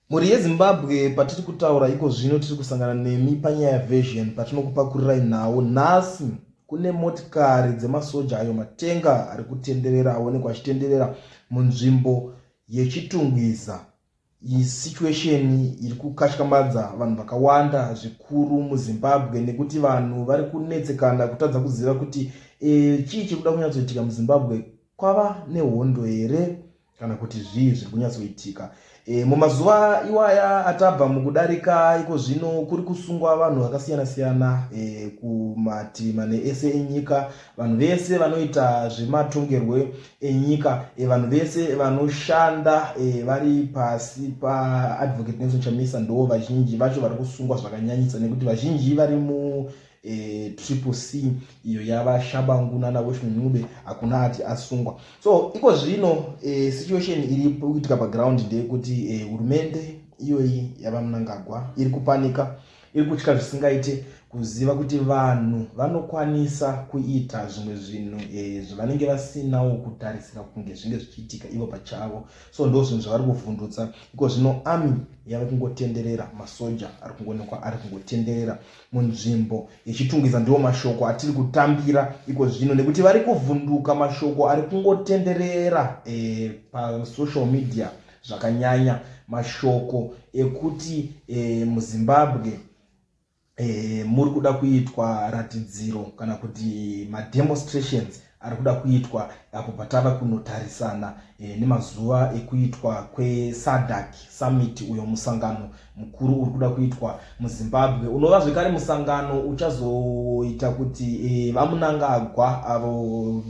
Mhuri yeZimbabwe patiri kutaura iko zvino tiri kusangana nemi panyaya version patinokupakurirai nhau nhasi kune motikari dzemasoja ayo matenga ari kutenderera aonekwa achitenderera munzvimbo yechitungwiza situation iri kukatyamadza vanhu vakawanda zvikuru muzimbabwe nekuti vanhu vari kunetsekana kutadza kuziva kuti e, chii chiri kuda kunyatsoitika muzimbabwe kwava nehondo here kana kuti zvii zviri kunyatsoitika e, mumazuva iwaya atabva mukudarika iko zvino kuri kusungwa vanhu vakasiyana siyana e, kumativi mane ese enyika vanhu vese vanoita zvematongerwe enyika e, vanhu vese vanoshanda e, vari pasi paadvocate nelson chamisa ndo vazhinji vacho vari kusungwa zvakanyanyisa nekuti vazhinji vari mu eh, triple c iyo yava shabangu nana weston ncube hakuna ati asungwa so iko zvino eh, situation iri kuitika paground ndeyekuti eh, hurumende eh, iyoyi yava munangagwa iri kupanika iri kutya zvisingaite kuziva kuti vanhu vanokwanisa kuita zvimwe zvinhu eh, zvavanenge vasinawo kutarisira kunge zvinge zvichiitika ivo pachavo so ndo zvinhu zvavari kuvhundutsa iko zvino ami yave kungotenderera masoja ari kungonekwa ari kungotenderera munzvimbo yechitungwiza ndiwo mashoko atiri kutambira iko zvino nekuti vari kuvhunduka mashoko ari kungotenderera e, pasocial media zvakanyanya mashoko ekuti e, muzimbabwe e, muri kuda kuitwa ratidziro kana kuti mademonstrations ari kuda kuitwa apo patava kunotarisana e, nemazuva ekuitwa kwesadak summit uyo musangano mukuru uri kuda kuitwa muzimbabwe unova zvekare musangano uchazoita kuti e, vamunangagwa avo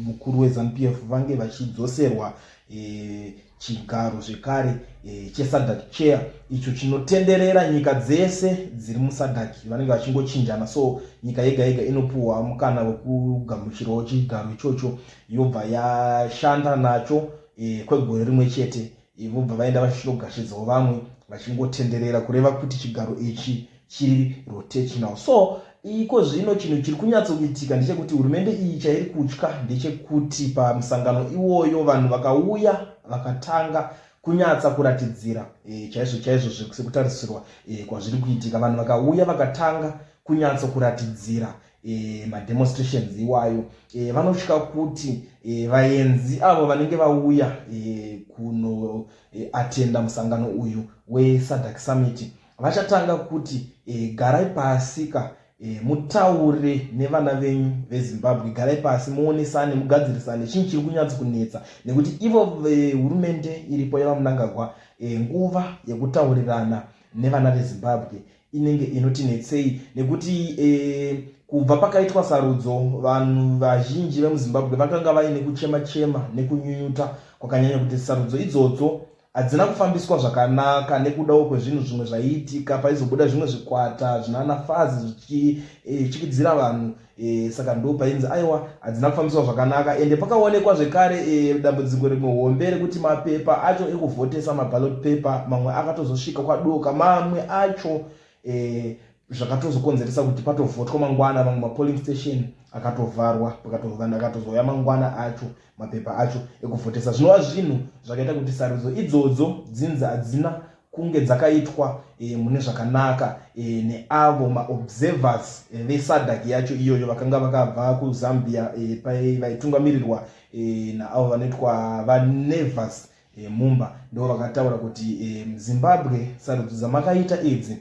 mukuru wezanupf vange vachidzoserwa e, Chigaro zvekare e, cheSADC chair icho chinotenderera nyika dzese dziri muSADC vanenge vachingochinjana, so nyika yega yega inopuwa mukana wekugamuchirawo chigaro ichocho yobva yashanda nacho e, kwegore rimwe chete e, vobva vaenda vachinogashidzao vamwe vachingotenderera kureva kuti chigaro ichi chiri rotational so iko zvino chinhu chiri kunyatsoitika ndechekuti hurumende iyi chairi kutya ndechekuti pamusangano iwoyo vanhu vakauya vakatanga kunyatsa kuratidzira e, chaizvo chaizvo sekutarisirwa e, kwazviri kuitika vanhu vakauya vakatanga kunyatso kuratidzira e, mademonstrations iwayo e, vanotya kuti e, vaenzi avo vanenge vauya e, kunoatenda e, musangano uyu wesadak summit vachatanga kuti e, garai pasi ka e, mutaure nevana venyu vezimbabwe garai pasi muonesane mugadzirisane chinyi chiri kunyatso kunetsa nekuti ivo vehurumende eh, iripo yevamunangagwa e, nguva yekutaurirana nevana vezimbabwe inenge inoti netsei nekuti e, kubva pakaitwa sarudzo vanhu vazhinji vemuzimbabwe vakanga vaine kuchema chema nekunyunyuta kwakanyanya kuti sarudzo idzodzo hadzina kufambiswa zvakanaka nekudawo kwezvinhu zvimwe zvaiitika paizobuda zvimwe zvikwata zvinana fazi zvichichikidzira eh, vanhu e, saka ndo painzi aiwa hadzina kufambiswa zvakanaka ende pakaonekwa zvekare e, dambudziko rimwe hombe rekuti mapepa acho ekuvhotesa mabalot paper mamwe akatozosvika kwadoka mamwe acho e, zvakatozokonzeresa kuti patovhotwa mangwana mamwe mapolling station akatovharwa pakatovanhu akatozouya mangwana acho mapepa acho ekuvhotesa zvinova zvinhu zvakaita kuti sarudzo idzodzo dzinzi hadzina kunge dzakaitwa e, mune zvakanaka e, neavo maobservers e, vesadak yacho iyoyo vakanga vakabva kuzambia e, vaitungamirirwa e, naavo vanoitwa vanevers e, mumba ndo vakataura kuti e, zimbabwe sarudzo dzamakaita idzi e,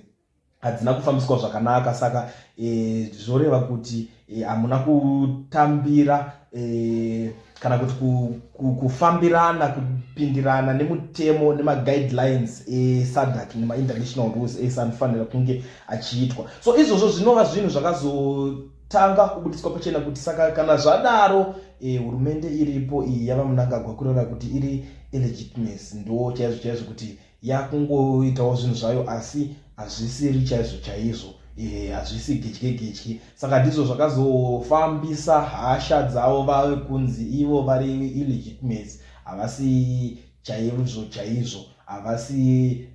hadzina kufambiswa zvakanaka saka e, zvoreva kuti e, hamuna kutambira e, kana kuti ku, ku, kufambirana kupindirana nemutemo nemaguidelines esadak nemainternational rules ese anofanira kunge achiitwa so izvozvo zvinova zvinhu zvakazotanga kubudiswa pachena kuti saka kana zvadaro e, hurumende iripo iyi yava munangagwa kureva kuti iri ilegitimacy ndo chaizvo chaizvo kuti yakungoitawo zvinhu zvayo asi hazvisiri chaizvo chaizvo eh, hazvisi gedye gedye saka ndizvo zvakazofambisa hasha dzavo vave kunzi ivo vari illegitimates havasi chaizvo chaizvo havasi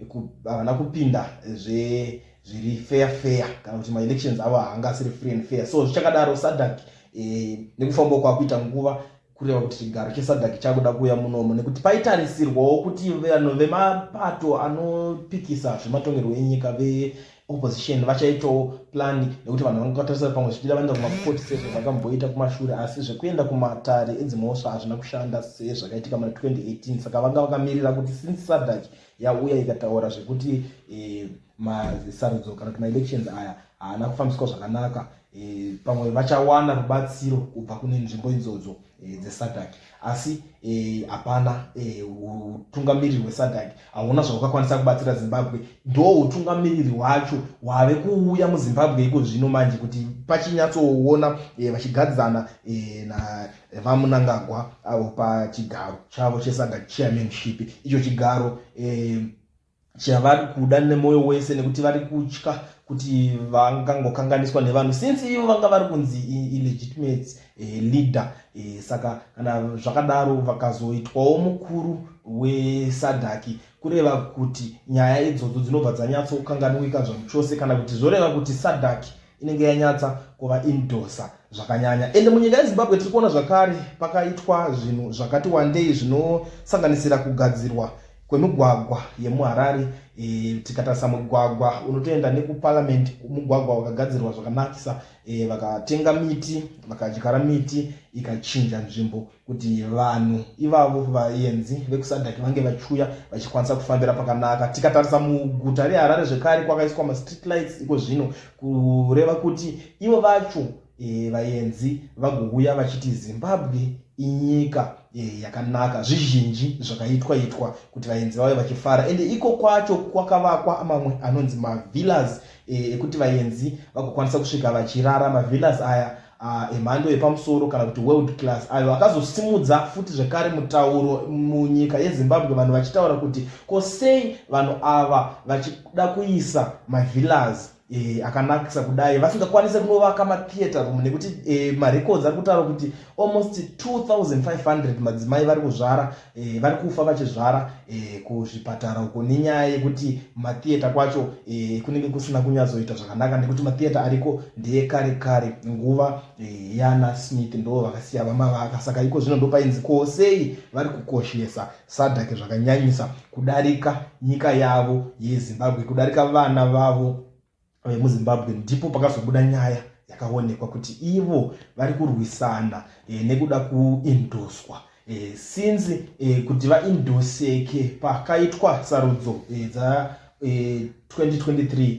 havana kupinda zve zviri fair fair kana kuti maelections avo haangasiri free and fair so zvichakadaro sadak eh, nekufamba kwakuita nguva kureva kuti chigaro chesadhaki chakuda kuuya munomo nekuti paitarisirwawo kuti vanhu vemapato anopikisa zvematongerwo enyika veopposition vachaitawo plani nekuti vanhu vanga vatarisira pamwe zvichida vaenda kumakoti sezvavakamboita kumashure asi zvekuenda kumatare edzimhosva hazvina kushanda sezvakaitika muna 2018 saka vanga vakamirira kuti since sadhaki yauya ikataura zvekuti eh, masarudzo kana kuti maelections aya haana kufambiswa zvakanaka e, pamwe vachawana rubatsiro kubva kune nzvimbo idzodzo e, dzesadak asi e, hapana e, utungamiriri e, hwesadak hauna zvahwakakwanisa kubatsira zimbabwe ndo utungamiriri hwacho hwave kuuya muzimbabwe iko zvino manje kuti pachinyatsoona e, vachigadzana e, na vamunangagwa avo pachigaro chavo chesadak chairmanship icho chigaro e, chavari kuda nemwoyo wese nekuti vari kutya kuti vangangokanganiswa nevanhu since ivo vanga vari kunzi illegitimate eh, leader eh, saka kana zvakadaro vakazoitwawo mukuru wesadhaki kureva kuti nyaya idzodzo dzinobva dzanyatsokanganwika zvamuchose kana kuti zvoreva kuti sadhaki inenge yanyatsa kuva indosa zvakanyanya ende munyika yezimbabwe tiri kuona zvakare pakaitwa zvinhu zvakati wandei zvinosanganisira kugadzirwa kwemigwagwa yemuharare e, tikatarisa mugwagwa unotoenda nekuparliament mugwagwa wakagadzirwa zvakanakisa e, vakatenga miti vakadyara miti ikachinja nzvimbo kuti vanhu ivavo vayenzi vekusadhaki vange vachiuya vachikwanisa kufambira pakanaka tikatarisa muguta reharare zvekare kwakaiswa mastreet lights iko zvino kureva kuti ivo vacho e, vayenzi vagouya vachiti zimbabwe inyika e, yakanaka zvizhinji zvakaitwa itwa kuti vayenzi vave vachifara ende iko kwacho kwakavakwa mamwe anonzi mavillas e, ekuti e, vayenzi vagokwanisa kusvika vachirara mavillas aya uh, emhando yepamusoro kana kuti world class ayo akazosimudza futi zvekare mutauro munyika yezimbabwe vanhu vachitaura kuti ko sei vanhu ava vachida kuisa mavillas E, akanakisa kudai vasingakwanise kunovaka matheatre room nekuti e, marecords ari kutaura kuti almost 2500 madzimai vari kuzvara e, vari kufa vachizvara e, kuzvipatara uko nenyaya yekuti matheatre kwacho e, kunenge kusina kunyatsoita zvakanaka nekuti matheatre ariko ndeyekare kare nguva e, yana smith ndo vakasiya vamavaka saka iko zvino ndopainzi ko sei vari kukoshesa sadhake zvakanyanyisa kudarika nyika yavo yezimbabwe kudarika vana vavo vemuzimbabwe ndipo pakazobuda nyaya yakaonekwa kuti ivo vari kurwisana e, nekuda kuindoswa e, eh, since e, kuti vaindoseke pakaitwa sarudzo e, dza e, 2023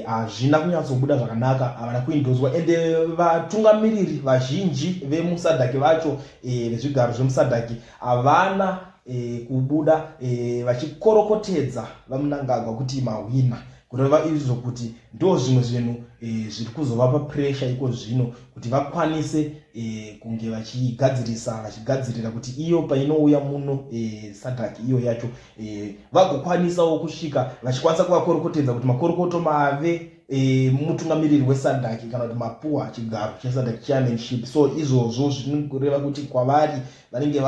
hazvina e, kunyatsobuda zvakanaka havana kuindoswa ende vatungamiriri vazhinji vemusadhaki vacho e, vezvigaro zvemusadhaki havana e, kubuda e, vachikorokotedza vamunangagwa kuti mahwina kureva izvo kuti ndo zvimwe zvinhu e, zviri kuzovapa puresha iko zvino kuti vakwanise e, kunge vachigadzirisa vachigadzirira kuti iyo painouya muno e, eh, sadhaki iyo yacho e, vagokwanisawo kusvika vachikwanisa kuvakorokotedza kuti makorokoto mave e, mutungamiriri wesadhaki kana kuti mapuwa chigaro chesadhaki chairmanship so izvozvo zvinokureva kuti kwavari vanenge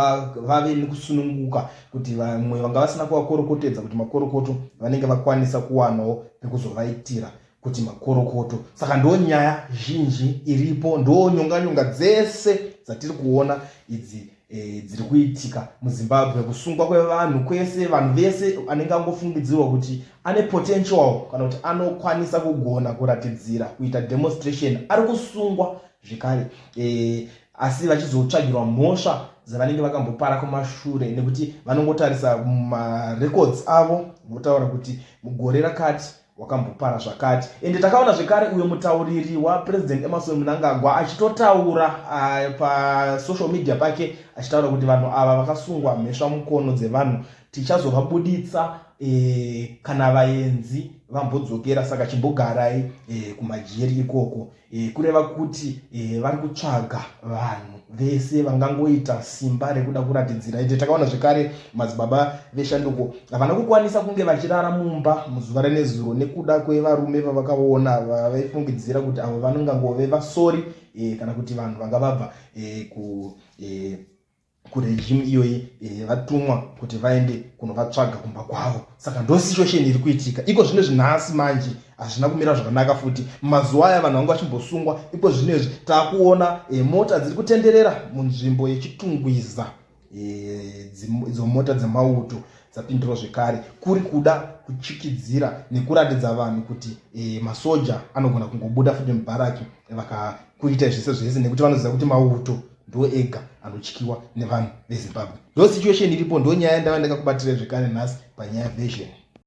vave nekusununguka kuti vamwe vanga vasina kuvakorokotedza kuti makorokoto vanenge vakwanisa kuwanawo pekuzovaitira kuti makorokoto saka ndo nyaya zhinji iripo ndo nyonganyonga dzese dzatiri kuona idzi e, dziri kuitika muzimbabwe kusungwa kwevanhu kwese vanhu vese anenge angofungidzirwa kuti ane potential kana kuti anokwanisa kugona kuratidzira kuita demonstration ari kusungwa zvekare e, asi vachizotsvagirwa mhosva dzavanenge vakambopara kumashure nekuti vanongotarisa marecords avo votaura kuti mugore rakati wakambopara zvakati ende takaona zvekare uyo mutauriri wapresident emerson munangagwa achitotaura uh, pasocial media pake achitaura kuti vanhu ava vakasungwa mhesva mukono dzevanhu tichazovabuditsa eh, kana vaenzi vambodzokera saka chimbogarai eh, kumajeri ikoko e, kureva kuti e, vari kutsvaga vanhu vese vangangoita simba rekuda kuratidzira ite takaona zvekare madzibaba veshanduko havana kukwanisa kunge vachirara mumba muzuva renezuro nekuda kwevarume vavakaona vavaifungidzira kuti avo vanongangove vasori e, kana kuti vanhu vanga vabva e, ku e, kuregimu iyoyi eh, vatumwa kuti vaende kunovatsvaga kumba kwavo saka ndo situation iri kuitika iko zvino izvi nhasi manje hazvina kumira zvakanaka futi mazuva aya vanhu vanga vachimbosungwa iko zvino izvi taakuona eh, mota dziri kutenderera munzvimbo yechitungwiza eh, idzo mota dzemauto dzapindiro zvekare kuri kuda kuchikidzira nekuratidza vanhu kuti e, masoja anogona kungobuda futi mubharaki vakakuita zvese zvese nekuti vanoziva kuti mauto ndo ega anotyiwa nevanhu vezimbabwe ndo situation iripo ndo nyaya yandava ndakakubatira zvekare nhasi panyaya version